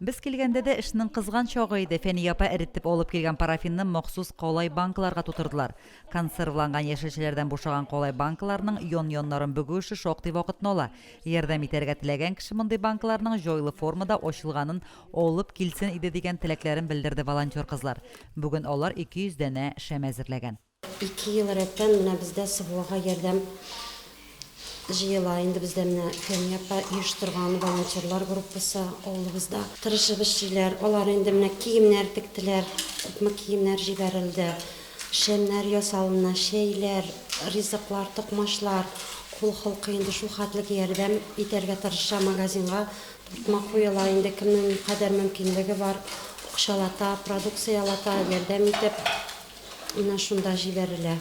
Без килгәндә дә эшнең кызган чагы иде, Фәния апа эретеп алып килгән парафинны махсус калай банкаларга тутырдылар. Консервланган яшелчәләрдән бушаган калай банкаларның ян-яннарын бөгү эше шактый вакытны ала. Ярдәм итәргә теләгән кеше мондый банкаларның җайлы формада ачылганын алып килсен иде дигән теләкләрен белдерде волонтер кызлар. Бүген алар ике йөз данә шәм әзерләгән. Ике ел рәттән менә бездә СВОга ярдәм җыела. Инде бездә менә Фәния апа оештырган волонтерлар группасы авылыбызда тырышып эшлиләр. Алар инде менә киемнәр тектеләр, күпме киемнәр җибәрелде. Шәмнәр ясалына, чәйләр, ризыклар, токмачлар. Кул холкы инде шул хәтлек ярдәм итәргә тырыша. Магазинга тартма куела, инде кемнең никадәр мөмкинлеге бар, акчалата, продукциялата ярдәм итеп. Менә шунда җибәрелә.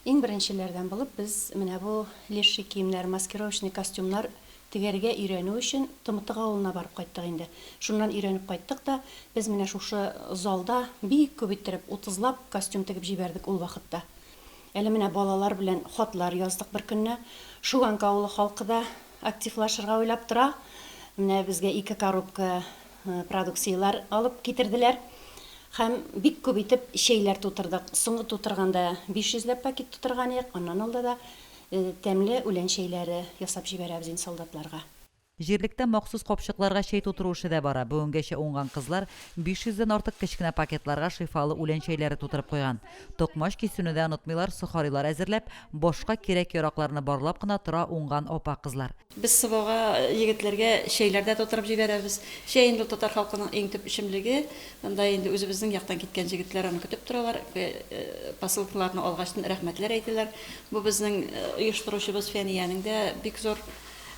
Иң беренчеләрдән булып без менә бу леший киемнәр, маскировочный костюмнар тегәргә өйрәнү өчен Тымытык авылына барып кайттык инде. Шуннан өйрәнеп кайттык та, без менә шушы залда бик күп иттереп, утызлап костюм тегеп җибәрдек ул вакытта. Әле менә балалар белән хатлар яздык беркөнне. Шуганка авылы халкы да активлашырга уйлап тора. Менә безгә ике коробка Продукцияләр алып китерделәр һәм бик күп итеп чәйләр тутырдык. Соңгы тутырганда 500 ләп пакет тутырган идек, аннан алда да тәмле үлән чәйләре ясап җибәрәбез инде солдатларга. Җирлектә махсус капчыкларга чәй тутыру эше дә бара. Бүгенгәчә уңган кызлар 500 дән артык кечкенә пакетларга шифалы үлән чәйләре тутырып куйган. Токмач кисүне дә онытмыйлар, сохарилар әзерләп, башка кирәк-яракларны барлап кына тора уңган апа-кызлар. Без Сыбага егетләргә чәйләр дә тутырып җибәрәбез. Чәй инде ул татар халкының иң төп эчемлеге. Анда инде үзебезнең яктан киткән җегетләр аны көтеп торалар. Посылкаларны алгач рәхмәтләр әйтәләр. Бу безнең оештыручыбыз Фәниянең дә бик зур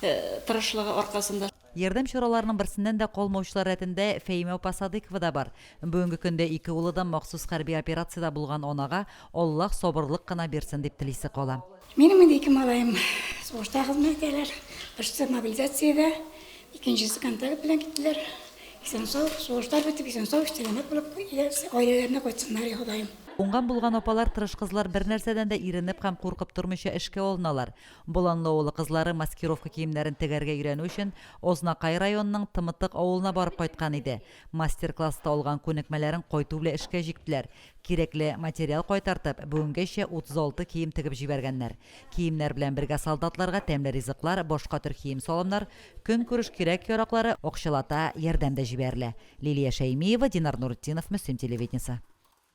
тырышлыгы аркасында. Ярдәм чараларының берсеннән дә калмаучылар рәтендә Фәимә апа Садыйкова да бар. Бүгенге көндә ике улы да махсус хәрби операциядә булган анага Аллаһ сабырлык кына бирсен дип телисе кала. Минем инде ике малаем сугышта хезмәт итәләр. Берсе мобилизациядә, икенчесе контакт белән киттеләр. Исән-сау, сугыштар бетеп, исән-сау, сәламәт булып, гаиләләренә кайтсыннар, и Ходаем. Уңган булган апалар, тырыш кызлар бернәрсәдән дә иренеп һәм куркып тормыйча эшкә алыналар. Боланлы авылы кызлары маскировка киемнәрен тегәргә өйрәнү өчен Ознакай районының Тымытык авылына барып кайткан иде. Мастер-класста алган күнекмәләрен кайту белән эшкә җиктеләр. Кирәкле материал кайтартып, бүгенгәчә 36 кием тегеп җибәргәннәр. Киемнәр белән бергә солдатларга тәмле ризыклар, башка төр кием-салымнар, көнкүреш кирәк-яраклары, акчалата ярдәм дә җибәрелә. Лилия Шәймиева, Динар Нуретдинов, Мөслим телевидениесе.